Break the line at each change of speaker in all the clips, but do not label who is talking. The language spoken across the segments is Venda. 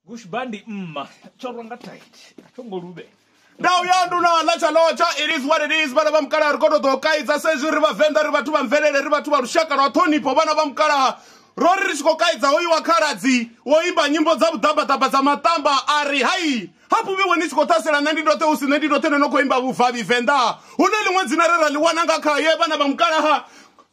Gush bandi mma chorwa nga tight. Thongo lube. ndau ya
nduna ḽa tsha lotsha it is what it is vhana vha mukalaha ri koto ḓo kaidza sa izwi ri vhavenḓa ri vhathu vha mvelele ri vhathu vha lushaka lwa ṱhonipho vhana vha mukalaha ro ri ri tshi khou kaidza hoyu wa khaladzi wo imba nyimbo dza vhuḓambaḓamba dza maṱamba a ri hai hafhu vhiwe ni tshi khou ṱhasela nṋe ndi ndoṱhe hu si nṋe ndi ndoṱhe no no khou imba vhuvavhi venḓa hu na ḽiṅwe dzina re ra ḽi wana nga khaye vhana vha mukalaha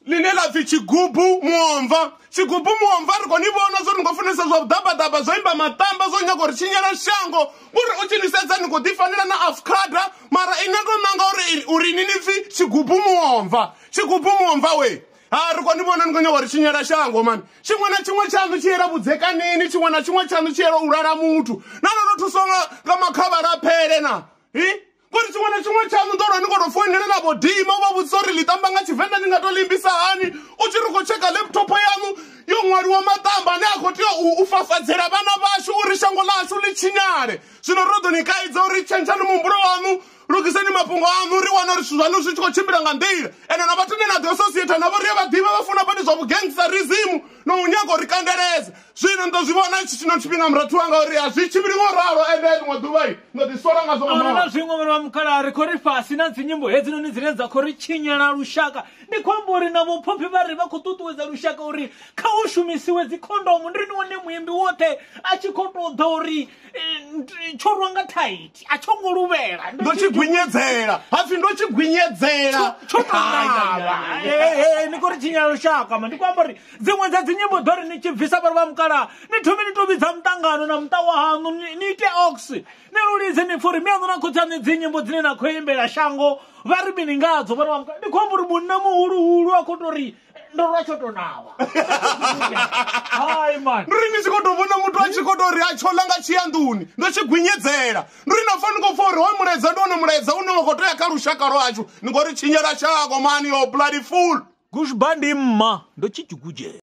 ḽine ḽa pfi tshigubu muomva tshigubu muomva ri khou ni vhona zwo ni khou funesa zwa vhuḓabaḓaba zwo imba maṱamba zwo nyaga uri tshinyela shango uri u tshi ni sedza ni khou ḓifanela na afukada mara ine ndo nanga uri uri ni ni pfi tshigubu muomva tshigubu muomva we ha ri khou ni vhona ni khou nyaga uri tshinyela shango mani tshiṅwe na tshiṅwe tshaṋu tshi yela vhudzekanini tshiṅwe na tshiṅwe tshaṋu tshi yela u lala muthu na no no thuswa nga makhavhala phele na hi ngori tshiṅwe na tshiṅwe tshaṋu ḓo lwa ni koto foinela na vho dima vha vhudzisa uri ḽi tamba nga tshivenḓa ni nga to limbisa hani u tshi ri khou tsheka laptop yaṋu yo ṅwaliwa maṱamba ane a khou tea u fafadzela vhana vhashu uri shango ḽashu ḽi tshinyale zwino ro ḓo ni kaidza uri tshentshani muhumbulo waṋu lugiseni mafhungo aṋu ri wana uri zwithu zwaṋu zwi tshi khou tshimbila nga nḓila ende na vhathu ne na ḓi associata navho ri a vha ḓivha vha funa badi zwa vhugengisa rizimu na u nyaga uri kandeledza zwino ndo zwi vhona tshi tshino tshifhinga murathu wanga uri a zwi tshimbili ngo ralo ende ḽiṅwe ḓuvha ndo ḓi sola nga zwo ahuna na zwiṅwe vhana vha
mukhala ri khou ri fhasi na dzinyimbo hedzinoni dzine dza khou ri tshinyela lushaka ndi khou amba uri na vhophophi vha ri vha khou ṱuṱuwedza lushaka uri kha hu shumisiwe dzikhondomu ndi ni wane muimbi woṱhe a tshi khou tou ḓa uri tsho rwa nga thaithi a tsho ngo luvhela ndo tshi gwinyedzela
hapfi ndo tshi gwinyedzela tsho ṱavha
ni khou ri tshinya lushaka ma ndi khou amba uri dziṅwe dza dzinyimbo ḓo ri ni tshi bvisa vhari vha mukala ni thomi ni to vhidza muṱangano na muṱa wa haṋu ni ite ox ni lulidze ni pfuri mi aṋu na khotsi aṋe dzinyimbo dzine na khou imbela shango vha ri mini ngadzo vhari vha mukala ndi khou amba uri munna muhuluhulu a khou to ri ndo lwa tsho to nawa hayi mani ndiri ni tshi khou tou vhona muthu
a tshi khou tou ri a tshola nga tshiyanḓuni ndo tshi gwinyedzela ndiri na pfa ni khou pfa uri hoyu mulaedza ndi wone mulaedza une wa khou tea kha lushaka lwashu ni ngori tshinyela
shako
mani yo bloody
full
gushba
ndi
mma ndo tshi tshigujela